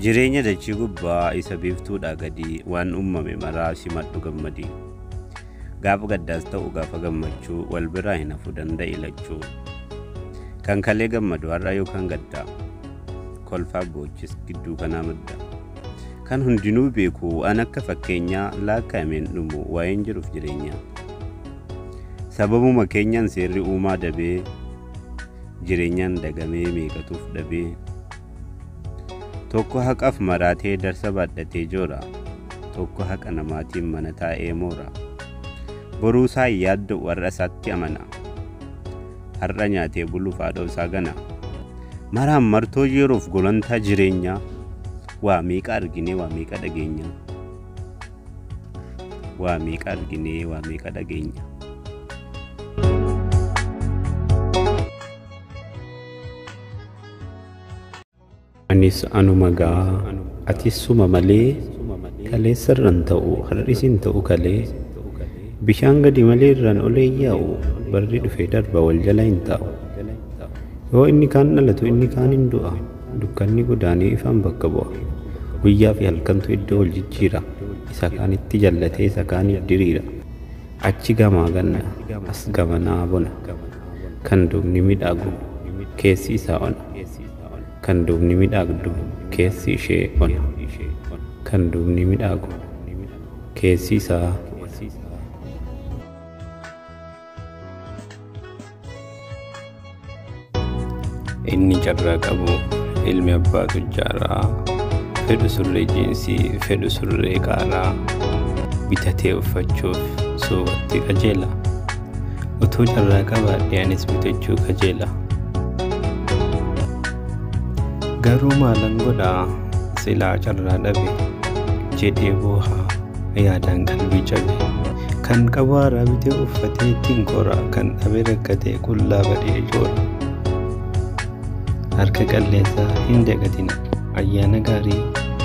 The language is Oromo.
Jireenya dachii gubbaa isa biiftuudhaa gadii waan uumame maraa simadhu gammadi. Gaafa gaddaas ta'u gaafa gammachuu wal biraa hin hafu danda'i lachuu. Kan kalee gammadu har'a yookaan gaddaa. kolfaa boochis gidduu kanaa madda. Kan hundinuu beeku waan akka fakkeenyaa laakkaa'ameen dhumu waa'een jiruuf jireenyaa. Sababuma keenyaan seerri uumaa dabee jireenyaan dagamee meeqatuuf dhabee. Tokko haqaaf maraatee darsa baadhatee joora. Tokko haqa namaatiin mana taa'ee moora. Boruu isaa hin yaadda'u har'a isaatti amana. har'a nyaatee buluuf haadhoo isaa gana. Maraan martoo yeroof golantaa jireenyaa waa meeqa arginee waa meeqa dhageenyaa. Waa meeqa arginee waa meeqa dhageenyaa. Anis anuma gaa atis suma malee kaleessa irran ta'u har'is hin ta'u kalee bishaan gadi malee irraan olee yaa'u barri dhufe darba wal jala hin taa'u yoo inni kaan dhalatu inni kaan hin du'a dukkanni godaanee ifaan bakka bu'a guyyaa fi halkantu iddoo wal jijjiira isa kaanitti jallatee isa kaaniif diriira achi gamaa ganna as gamanaa bona kan duubni midhaagu keessi isaa ona. Kan duubni midhaagdu keessi ishee ona. Kan duubni midhaagu keessi isaa ona. Inni carraa qabu ilmi abbaa tujjaaraa fedhu surree jiinsii fedhu surree qaaraa bitatee uffachuuf suuqatti qajeela. Utuu carraa qabaadhee anis bitachuu kajeela. Garuu maalan godhaa silaa carraa dhabe jedhee booha yaadaan qalbii cabe. Kan qabu haaraa bitee uffatee ittiin kora kan dhabe rakkatee qullaa badee joora. Harka qalleessaa hin dagatina ayyaana gaarii.